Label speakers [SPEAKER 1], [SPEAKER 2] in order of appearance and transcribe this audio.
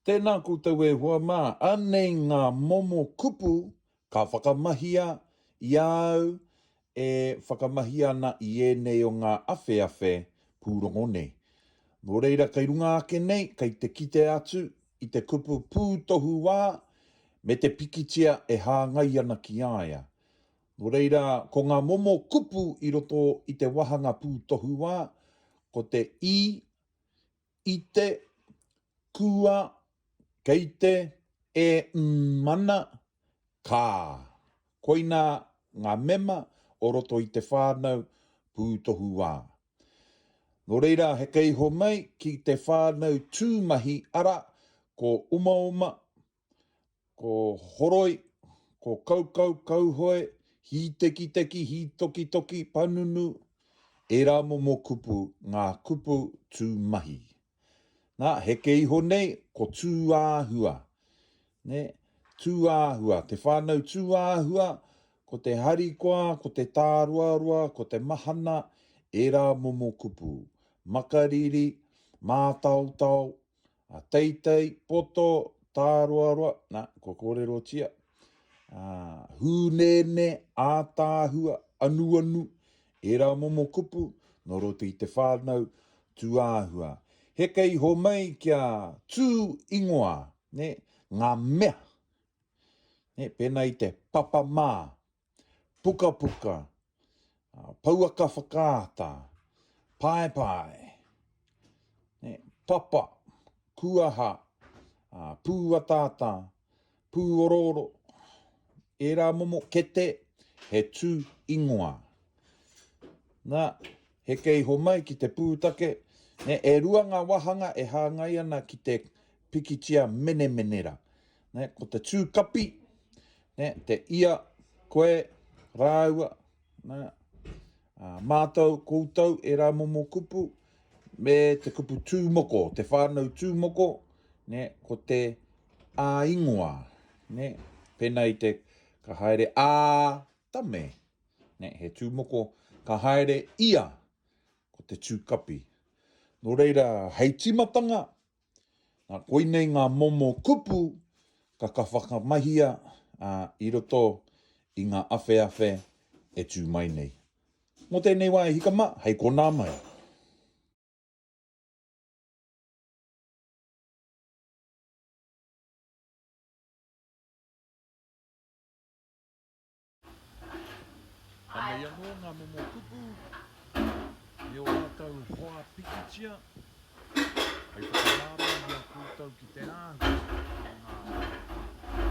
[SPEAKER 1] Tēnā koutou e hoa mā, anei ngā momo kupu ka whakamahia i a au e whakamahi ana i ēnei o ngā awheawhe pūrongo nei. Nō reira kei runga ake nei kei te kite atu i te kupu pūtohu wā me te pikitia e hāngai ana ki a ia. Nō reira, ko ngā momo kupu i roto i te wāhanga pūtohuwā, ko te i, i te, kua, kei te, e, mm, ana, ka. Koinā ngā mema o roto i te whānau pūtohuwā. Nō reira, heke iho mai ki te whānau tūmahi, arā, ko umauma, ko horoi, ko kaukau, kauhoe, hītekiteki, hītokitoki, panunu, ērā momo kupu, ngā kupu tū mahi. Nā, heke iho nei, ko tūāhua. Nē, tūāhua, te whānau tūāhua, ko te harikoa, ko te tāroaroa, ko te mahana, ērā momo kupu, makariri, mātaotao, A teitei, poto, tāroaroa, na, kua kōrerotia, a, hūnēnē, ātaahua, anuanu, ērā momo kupu, nō roto i te whānau, tūāhua. Heke iho mai kia tū ingoa, nē, ngā mea, nē, pēnā i te papa mā, pukapuka, pouaka whakaata, paepae, papa, kuaha, pūataata, pūorooro, ērā momo kete he tū ingoa. Na, he kei homai ki te pūtake, e rua ngā wāhanga e hāngai ana ki te pikitia menemenera. Ne, ko te tū kapi, ne, te ia, koe, rāua, ne, a, mātou, koutou, ērā momo kupu, me te kupu tū moko, te whānau tū moko, ne, ko te ā ingoa, ne, pēnā i te ka haere ā tame, ne, he tū moko, ka haere ia, ko te tū kapi. Nō reira, hei tīmatanga, Nā, koinei ngā momo kupu ka ka whakamahia i roto i ngā awheawhe e tū mai nei. Mō tēnei wā e hika mā, hei konā mai. Anei anō ngā momo kupu i ō rātou hoa pikitia hei whakarārau i a koutou ki te āhua o ngā.